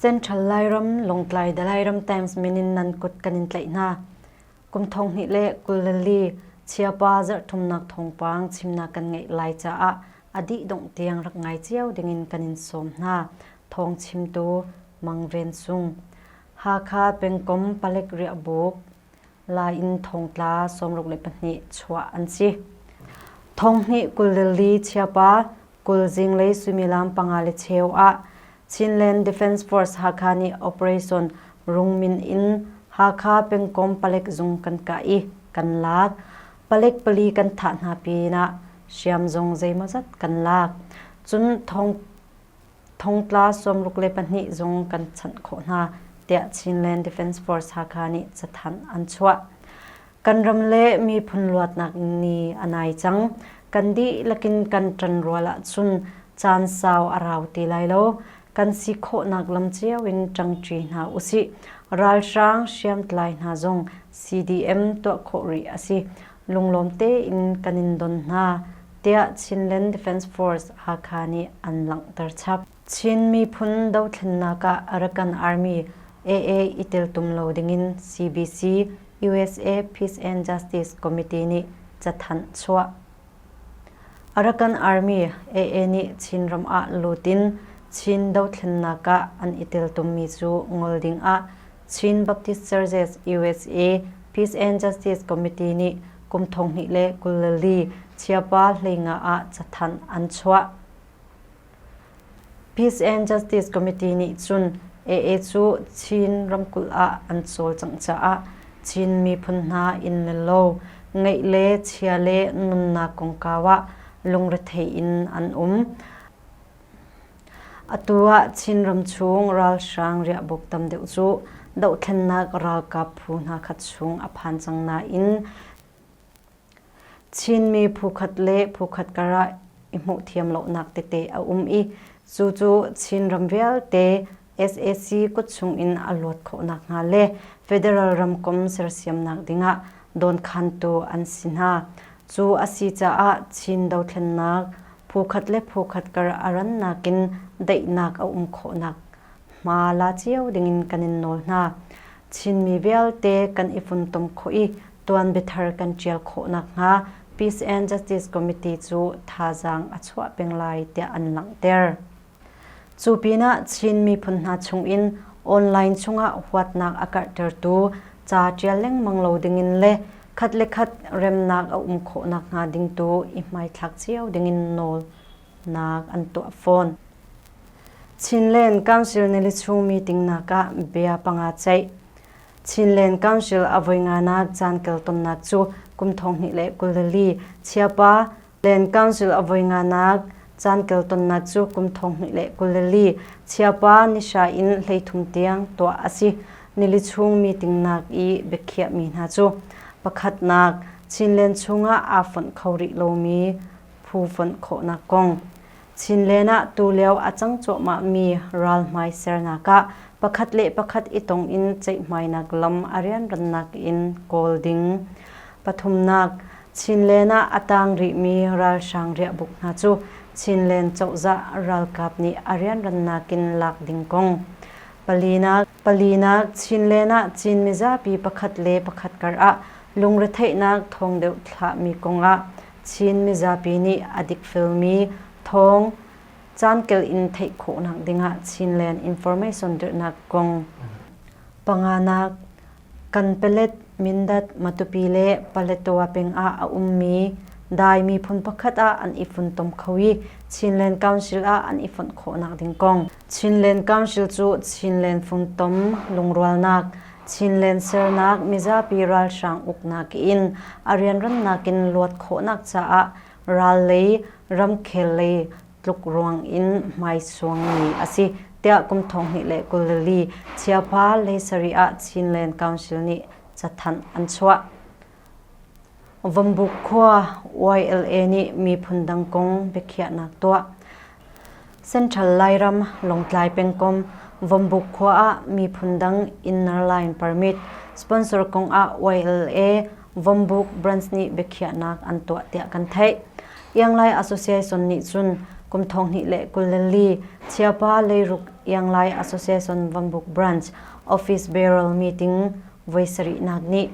Central Lairam Longtlai Dalairam Times minin nan kut kan in tlaih hna. Kum thong hnih le kul le li chiapa zarh thumnak thongpang chimna kan ngeih lai caah a dih dongh tiang rak ngai cio dingin kan in sawm hna. Thawng chimtu Mang Ven Sung, Hakha pengkom palek riahbuk, Lai in thongtla sawmruk le pahnih chuah an si. Thong hnih kul li chiapa kul zing le suimilam panga le cheu ah Chinland Defence Force Hakha nih operation Rungmin in Hakha pengkom palek zung kan kah i kan lak. Palet pali kan thah hna pinah hriam zong zeimawzat kan lak. Cun thong thongtla sawmruk le pahnih zong kan chanh khawh hna tiah Chinland Defence Force Hakha nih cathanh an chuah. Kan ram le miphun luatnak ni a nai cang. Kan dihlakin kan ṭan rual ahcun caan sau a rau ti lai lo. kan si khawhnak lam cio in ṭangṭi hna usih. Ralhrang hriamtlai hna zong CDM tuah khawh rih a si. Lunglawm tein kan in don hna, tiah Chinland Defence Force Hakha nih an langhter chap. Chin miphun dothlennak ah Arakan Army, AA, i teltum lo dingin CBC, usa Peace and Justice Committee nih cathanh chuah. Arakan Army AA nih Chin ram ah lut in Chin dothlennak ah an i teltummi cu ngol ding ah Chin Baptist Churches USA Peace and Justice Committee nih kum thonghnih le kul li chiapa hleinga ah cathanh an chuah. Peace and Justice Committee nih cun AA cu Chin ramkulh ah an cawlcangh caah Chin miphun hna inn le lo, ngeih le chia le nunnak kongkau ah lungrethei in an um. Atu ah Chinram chung ralhrang riahbuuk tam deuh cu dohthlennak ralkap phu hna khat chung a phan cang nain Chinmi phukhat le phukhat karah i hmuh thiam lonak tete a um i cu cu Chin ram vialte sac kutchung in a luat khawh nakhnga le federal ramkomh sersiamnak dingah dawnkhantu an si hna. Cu a si caah Chin dothlennak phukhat le phukhat kar a rannak in daihnak a um khawhnak hma la cio dingin kan in nawl hna. Chinmi vialte kan i funtom khawh i tuanbiathar kan ṭial khawh nakhnga Peace and Justice Committee cu thazaang a chuah peng lai tiah an langhter. Cu pinah Chin miphun hna chungin online chungah huatnak a karhtertu ca ṭial lengmang lo dingin le khat le khat remnak a um khawh nakhnga ding tu i hmaithlak cio dingin nawlnak an tuah fawn. Chinland Council nili chung meeting nakah bia panga ceih Chinland Council a voi nganak caan kal tonnak cu kum thonghnih le kul lili Chiapa Land Council a voi nganak caan kal tonnak cu kum thonghnih le kul lili Chiapa Nisha in hleithum tiang tuah a si. Nili chung meetingnak i biakhiahmi hna cu pakhatnak Chinland chungah aa fonh kho rih lomi phu fonh khawhnak kong, Chinland ah tulio a cang cuahmahmi ralhmai sernak ah pakhat le pakhat i tong in ceihmainak lam a rianrannak in kawl ding. Pathumnak, Chinland ah a tang rihmi ralhrang riahbuk hna cu Chinland cozah ralkap nih a rianrannak in lak ding kong. Palinak, palinak Chinland ah Chin mizapi pakhat le pakhat kar ah lungretheihnak thawng deuh thlahmi kong ah Chin mizapi nih a dikfelmi thawng caankel in theih khawhnak dingah Chinland Information dirhnak kong, panganak, Kanpelet, Mindat, Matupi le Paletwa peng ah a ummi Dai miphun pakhat ah an i funtom kho i Chinland Council ah an i fonh khawhnak ding kong, Chinland Council cu Chinland funtom lungrualnak, Chinland sernak mizapi ralhrang uknak in a rianrannak in luat khawhnak caah ral lei, ramkhel lei tlukruang in hmaisuang mi a si, tiah kum thong hnih le kul li chiapha leisari ah Chinland Council nih cathanh an chuah. Vambuk khua YLA nih miphun dang kong biakhiahnak tuah. Central Lairam Lawngtlai pengkom Vambuk khua ah miphun dang inner line permit sponsor kong ah YLA Vambuk branch nih biakhiahnak an tuah tiah kan theih. Ianglai Association nih cun kum thong hnih le kul le li Chiapa leiruk Ianglai Association Vambuk branch office barrel meeting voi sarihnak ni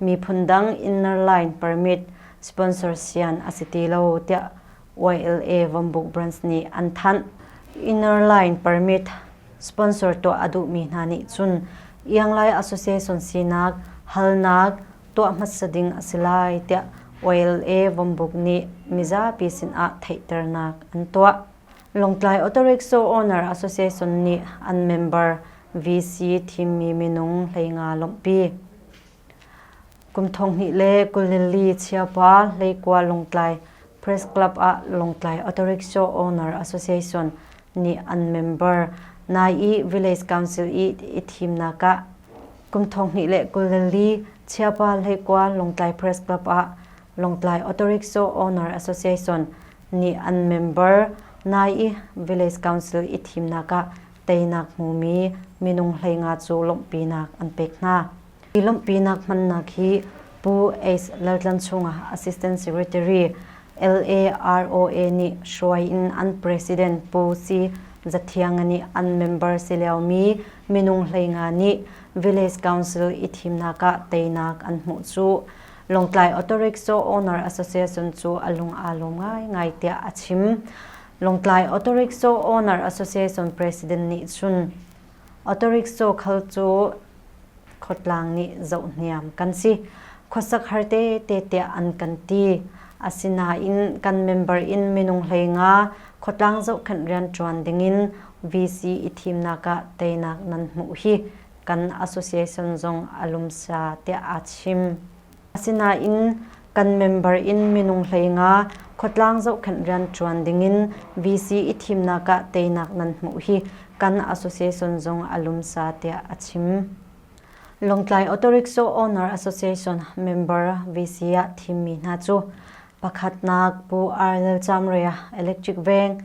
miphun dang inner line permit sponsor sian a si ti lo tiah YLA Vambuk Brands nih an thanh. Inner line permit sponsor tuah a duhmi hna nih cun Ianglai Association sinak halnak tuah hmasa ding a si lai tiah YLA Vambuk nih mizapi sinah theihternak an tuah. Lawngtlai Autorickshaw Owner Association nih an member VC thimmi minung hleinga lawmhpi. Kum thonghnih le kulili chiapa hleikua Lawngtlai Press Club ah Lawngtlai Autorickshaw Owner Association nih an member nai i Village Council i i thimnak ah kum thonghnih le kulili chiapa hleikua Lawngtlai Press Club ah Lawngtlai Autorickshaw Owner Association nih an member nai i Village Council i thimnak ah teinak hmumi minung hleinga cu lawmhpinak an pek hna. Hi lawmhpinak hmannak hi Pu Ace Laltlan chungah Assistant Secretary LAROA nih hruai in an President Pu Si Za Thiang nih an member si liomi minung hleinga nih Village Council i thimnak ah teinak an hmuh cu Lawngtlai Auto Rickshaw Owner Association cu a lung aa lawm ngaingai tiah a chim. Lawngtlai Auto Rickshaw Owner Association President nih cun Auto Rickshaw khal cu khotlang nih zohhniam kan si. Khuasak har tete tiah an kan ti. Asinain kan member in minung hlei nga khotlang zohkhenh rianṭuan dingin VC i thimnak ah teinak nan hmuh hi kan association zong a lumsa tiah aa chim. Asinain kan member in minung hlei nga khuatlang zohkhenh rian ṭuan dingin VC i thimnak ah teinak nan hmuh hi kan association zong a lumsa tiah a chim. Lawngtlai Auto Rickshaw Owner Association member VC ah thimmi hna cu pakhatnak Pu Ar Lal Cham Rea electric veng,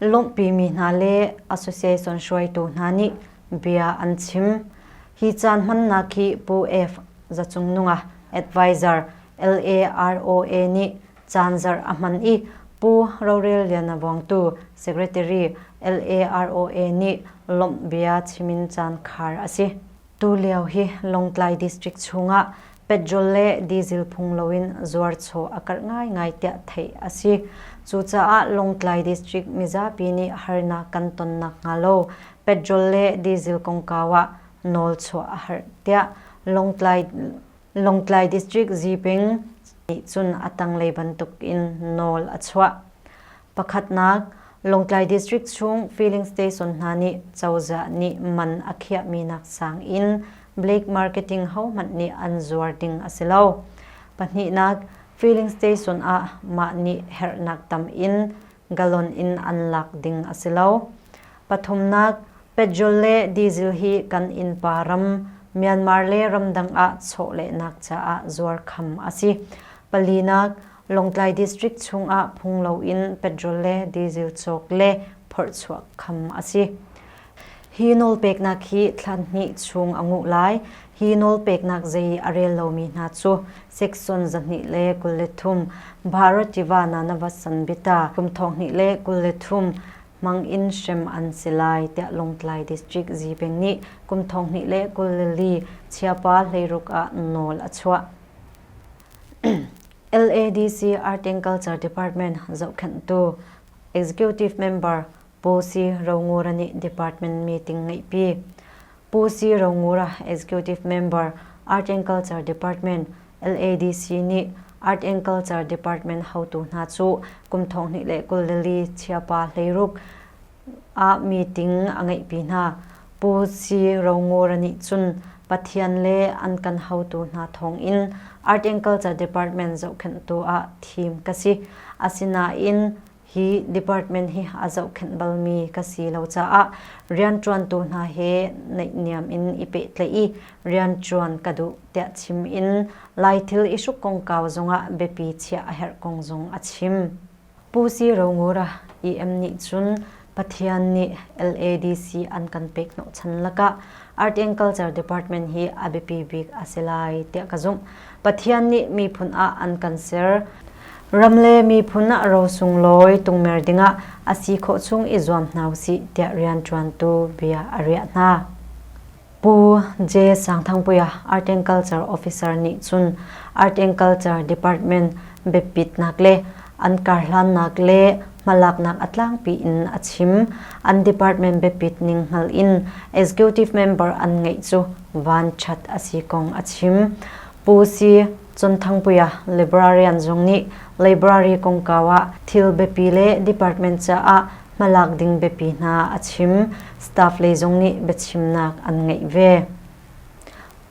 lawmhpimi hna le association hruaitu hna nih bia an chim. Hi caan hmannak hi Pu F. Zacung Nunga advisor LAROA nih caan zarh a hman i Pu Rorel Liana Vawngtu secretary LAROA nih lawmh bia chim in caan khar a si. Tulio hi Lawngtlai district chungah petrol le diesel phung loin zuarchaw a karh ngaingai tiah theih a si. Cucaah Lawngtlai district mizapi nih harnak kan ton nakhnga lo petrol le diesel kongkau ah nawl chuah a harh tiah Lawngtlai Lawngtlai district Ziping nih cun a tanglei bantuk in nawl a chuah. Pakhatnak, Lawngtlai District chung filling station hna nih cozah nih man a khiahmi nak sang in black marketing hohmanh nih an zuar ding a si lo. Pahnihnak, filling station ah mah nih herhnak tam in galon in an lak ding a si lo. Pathumnak, petrol le diesel hi kan innpa ram Myanmar le ramdang ah chawhlehnak caah zuar kham a si. Palinak, Lawngtlai District chungah phung loin petrol le diesel cawk le phorchuah kham a si. Hi nawlpeknak hi thlan hnih chung a nguh lai. Hi nawlpeknak zei a rel lomi hna cu Section zahnih le kul le thum Bharati-va Nanavasan Bita kum thong hnih le kul le thum hmang in hrem an si lai tiah Lawngtlai District Zipeng nih kum thong hnih le kul li chiapa hleiruk ah nawl a chuah. LADC Art and Culture Department zohkhenhtu Executive Member Pu Si Rongura nih department meeting ngeihpi. Pu Si Rongura Executive Member Art and Culture Department LADC nih Art and Culture Department hotu hna cu kum thong hnih le kul lili chiapa hleiruk ah meeting a ngeihpi hna. Pu Si Ro Ngura nih cun Pathian le an kan hotu hna thawngin Articulture Department zohkhenhtu ah thim ka si. Asinain hi department hi a zohkhenh balmi ka si lo caah rianṭuantu hna he naihniam in i pehtlaih i rianṭuan ka duh tiah chim in Lai thil i hruk kongkau zongah biapi chiah a herh kong zong a chim. Pu Si Rongura EM nih cun Pathian nih LADC an kan pek hnawh chan lakah Art and Culture Department hi a biapi bik a si lai tiah ka zumh. Pathian nih miphun ah an kan ser. Ram le miphun ah ro sunglawi tungmer dingah a si khawh chung i zuam hna usih tiah rianṭuantu bia a riah hna. Pu J. Sangthangpuia Art and Culture Officer nih cun Art and Culture Department biapitnak le an karhlannak le hmalaknak a tlangpi in a chim. An department biapit ning hngal in executive member an ngeih cu vanṭhat a si kong a chim. Pu Si Cunthangpuia librarian zong nih library kongkau ah thil biapi le department caah hmalak ding biapi hna a chim staff lei zong nih biachimnak an ngeih ve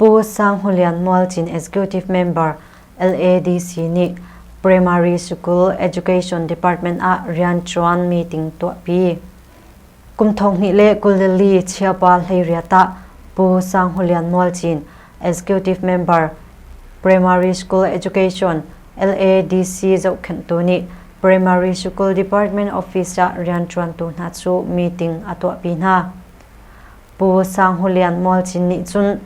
Pu Sang Hulian Mual Chin Executive Member LADC nih Primary School Education Department ah rian ṭuan meeting tuahpi kum thong hnih le kul li chiapa hleiriat ah Pu Sang Hulian Mual Chin Executive Member, Primary School Education, LADC zohkhenhtu nih Primary School Department Office ah rianṭuantu hna cu meeting a tuahpi hna. Pu Sang Hu Lian Mual Cin nih cun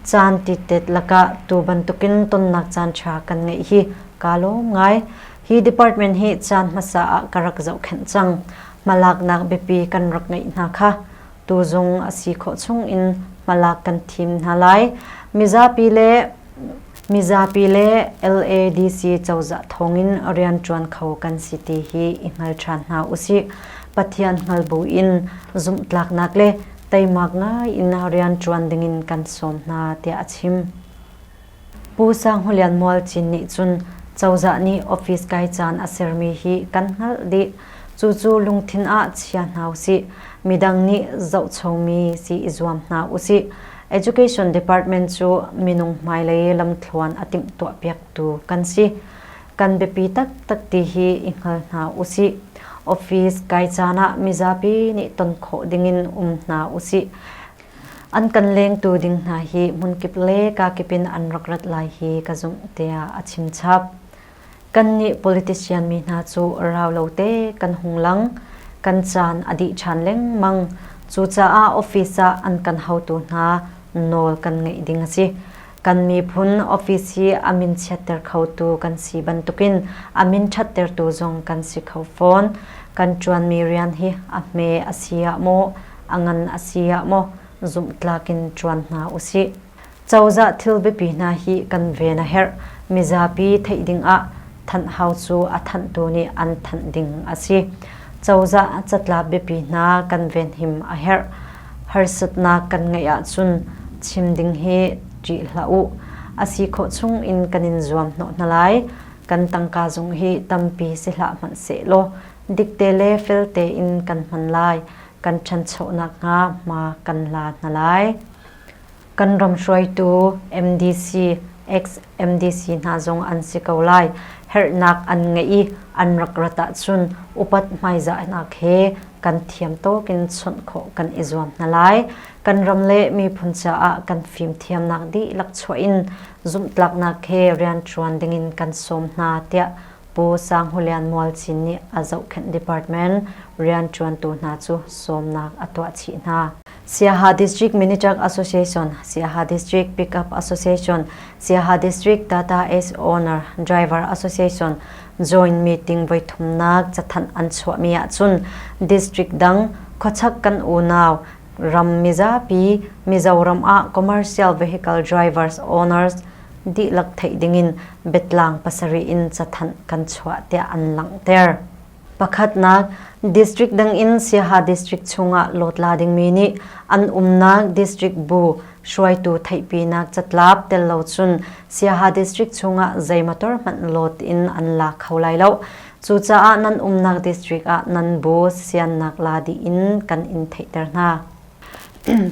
caan titet lakah tu bantukin tonnak caanṭha kan ngeih hi kaa lawm ngai. Hi department hi caan hmasa ah ka rak zohkhenh cang. Hmalaknak biapi kan rak ngeih hna kha tuzung a si khawh chung in hmalak kan thim hna lai. Mizapi le mizapi le LADC cozah thawngin rianṭuan kho kan si ti hi i hngal ṭhan hna usih. Pathian hngal bu in zumhtlaknak le teimak ngai in rianṭuan dingin kan sawm hna tiah a chim. Pu Sang Hu Lian Mual Cin nih cun cozah nih office kai caan a sermi hi kan hngalh dih. Cucu lungthin ah chia hna usih. Midang nih zohchomi si i zuam hna usih. Education Department cu minung hmailei lamthluan a timhtuahpiaktu kan si. Kan biapi taktak ti hi i hngal hna usih. Office kai caan ah mizapi nih ton khawh dingin um hna usih. an kan lengtu ding hna hi hmunkip le kakip in an rak rat lai hi ka zumh tiah a chimchap. Kannih politician mi hna cu rau lo te kan hung lang. Kan caan a dih ṭhan lengmang. Cucaah office ah an kan haotu hna nawl kan ngeih ding a si. Kan miphun office hi a min chiatter khotu kan si bantukin a min ṭhattertu zong kan si kho fawn. Kan ṭuanmi rian hi a hme a si ah maw, a ngan a si ah maw zumhtlak in ṭuan hna usih. Cozah thil biapi hna hi kan ven a herh. Mizapi theih dingah Thanh Hau cu a thanhtu nih an thanh ding a si. Cozah catlap biapi hna kan venhim a herh. Harsatnak kan ngeih ahcun chim ding hi ṭih hlah u. A si khawh chung in kan in zuamhnawh hna lai. Kan tangka zung hi tampi si hlah hmanh sehlaw dikte le fel tein kan hman lai. Kan ṭhancho nakhnga hma kan la hna lai. Kan ram hruaitu MDC, ex-MDC hna zong an si ko lai. Herhnak an ngeih i an rak rat ahcun upat hmaizahnak he kan thiam tawk in chawnh khawh kan i zuam hna lai. Kan ram le miphun caah kan fimthiamnak dihlak chuah in zumhtlaknak he rianṭuan dingin kan sawm hna, tiah Pu Sang Hu Lian Mual Cin nih a zohkhenh department rianṭuantu hna cu sawmnak a tuah chih hna. Siaha District Minichak Association, Siaha District Pickup Association, Siaha District Data as Owner Driver Association joint meeting voi thumnak cathanh an chuahmi ahcun district dang khuachak kan unau ram mizapi Mizoram ah commercial vehicle drivers owners dihlak theih dingin betlang pasarih in cathanh kan chuah tiah an langhter. Pakhatnak, District dangin Siaha District chungah lawtla dingmi nih an umnak District bu hruaitu theihpinak catlap tello cun Siaha District chungah zei motor hmanh lawt in an la kho lai lo. Cucaah nan umnak district ah nan bu siannak la dih in kan in theihter hna.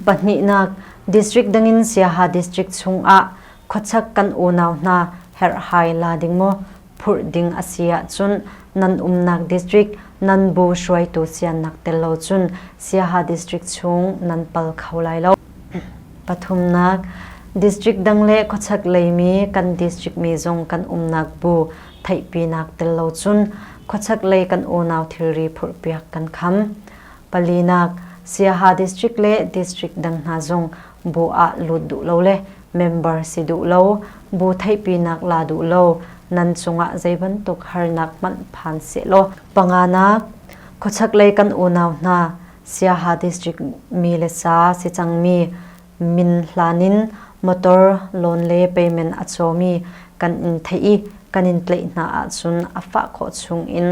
Pahnihnak, District dangin Siaha District chungah khuachak kan unau hna herhhai la ding maw phurh ding a si ahcun nan umnak district nan bu hruaitu siannak tel lo cun Siaha district chung nan pal kho lai lo. Pathumnak, district dang le khuachak leimi kan district mi zong kan umnak bu theihpinak tel lo cun khuachak lei kan unau thilri phurhpiak kan kham. Palinak, Siaha district le district dang hna zong bu ah lut duh lo le member si duh lo, bu theihpinak la duh lo, nan cungah zeibantuk harnak hmanh phan sehlaw panganak khuachaklei kan unau hna Siaha District mi le sa si cangmi min hlan in motor loan le payment a cawmi kan in theih i kan in tlaih hna ahcun a fah khawh chung in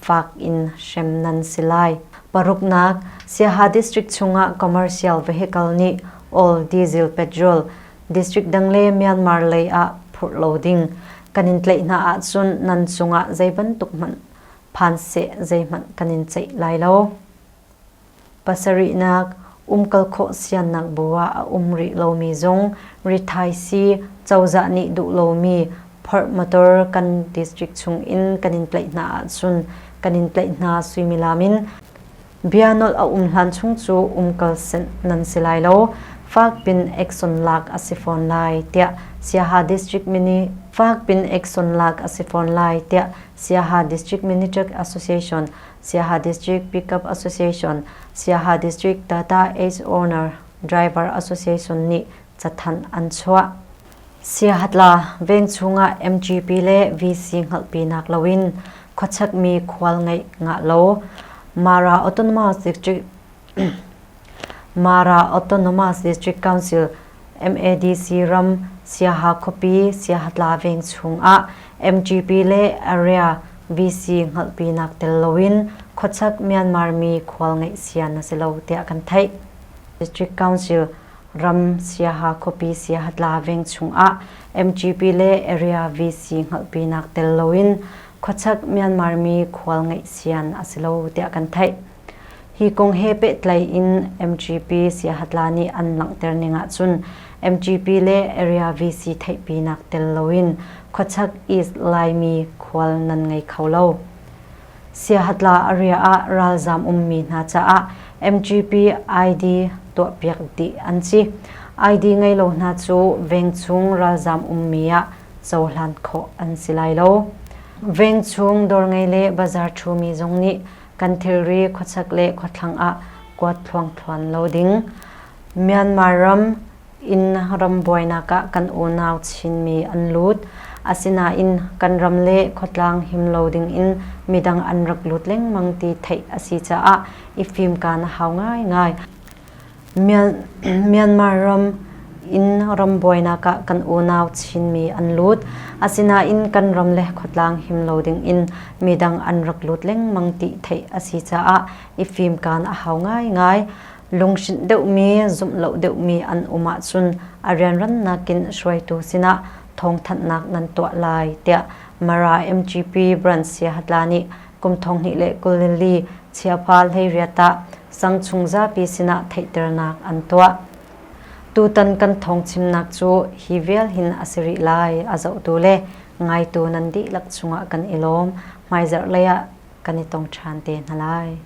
fak in hrem nan si lai. Paruknak, Siaha District chungah commercial vehicle nih all diesel petrol district dang le Myanmar lei ah phurh lo ding kan in tlaih hna ahcun nan cungah zei bantuk hmanh phan seh zeihmanh kan in ceih lai lo. Pasarihnak, umkal khawh siannak bu ah a um rih lomi zung, rithaisi, cozah nih duh lomi phorh motor kan district chung in kan in tlaih hna ahcun kan in tlaih hna suimilam in bianolh a um hlan chung cu umkal senh nan si lai lo. Fakpin Action lak a si fawn lai tiah Siaha District Mini Fakpin Action lak a si fawn lai tiah Siaha District Mini Truck Association Siaha District Pickup Association, Siaha District Data Age Owner Driver Association nih cathanh an chuah. Siahatla vengchung ah MGP le VC hngalhpinak loin khuachakmi khual ngeih ngah lo. Mara Autonomous District Mara Autonomous District Council MADC ram Siaha khuapi Siahatla veng chung ah MGP le Area VC hngalhpinak tel loin khuachak Myanmar mi khual ngeih sian a si lo tiah kan theih. District Council ram Siaha khuapi Siahatla veng chung ah MGP le Area VC hngalhpinak tel loin khuachak Myanmar mi khual ngeih sian a si lo tiah kan theih. Hi kong he pehtlai in MGP siahatla nih an langhter ning ahcun MGP le Area VC theihpinak tel loin khuachak East Laimi khual nan ngei kho lo. Siahatla a riah ah ralzaam ummi hna caah MGP ID tuahpiak dih an si. ID ngei lo hna cu vengchung ralzaam ummi ah cohlan khawh an si lai lo. Vengchung dawr ngei le bazaar ṭhumi zong nih kan thilri khuachek le khuathlang ah kuat thluangthluan lo ding. Myanmar ram in ram buainak ah kan unau Chinmi an lut. Asinain kan ram le khuatlang him lo ding in midang an rak lut lengmang ti theih a si caah i fimkan a hau ngaingai. Myanmar ram in ram buainak ah kan unau Chinmi an lut. Asinain kan ram le khuatlang him lo dingin midang an rak lut lengmang ti theih a si caah i fimkan a hau ngaingai. Lunghrinh deuhmi, zumh lo deuhmi an um ahcun a rianrannak in hruaitu sinah thawngthanhnak nan tuah lai tiah Mara MGP Brand Siahatla nih kum thonghnih le kulili chiapha hleiriat ah sang chung zapi sinah theihternak an tuah. Tutan kan thong chimnak cu hi vial hin a si rih lai a zohtu le ngaitu nan dihlak chungah kan i lawm. Hmaizarh lei ah kan i tong ṭhan te hna lai.